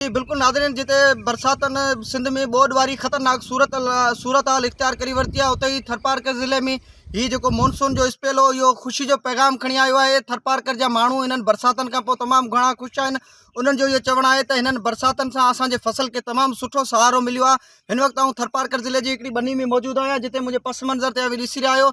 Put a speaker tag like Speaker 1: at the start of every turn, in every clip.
Speaker 1: جي بلڪل ناظرين جتي برساتن سنڌ ۾ ٻوڏ واري خطرناڪ صورت صورتحال اختيار ڪري ورتي آهي اتي ئي ٿرپارڪر ضلعي ۾ هي جيڪو مونسون جو اسپيل هو اهو خوشي جو پيغام کڻي آيو آهي ٿرپارڪر جا ماڻهو هنن برساتن کان پوء تمام گهڻا خوش آهن انهن جو اهو چوڻ آهي ته هنن برساتن سان اسان جي فصل کي تمام سٺو سهارو مليو آهي هن وقت آئون ٿرپارڪر ضلعي جي هڪڙي ٻني ۾ موجود آهيان جتي منهنجي پس منظر تي اوهين ڏسي رهيا آهيو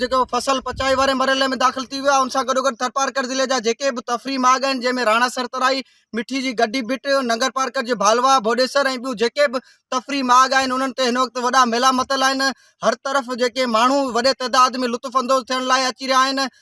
Speaker 1: جيڪو فصل پچائي واري مرحلي ۾ داخل ٿي ويو آهي ان سان گڏو گڏ ٿرپارڪر ضلعي جا جيڪي به تفريح ماڳ آهن جنهن ۾ راڻا سرترائي مٺي جي گڊي بٽ ننگرپارڪر جي ڀالوا ڀوڏيسر ۽ ٻيون جيڪي به تفريح ماڳ آهن انهن تي هن وقت وڏا ميلا متل آهن هر طرف جيڪي ماڻهو وڏي تعداد ۾ لطف اندوز ٿيڻ لاء اچي رهيا آهن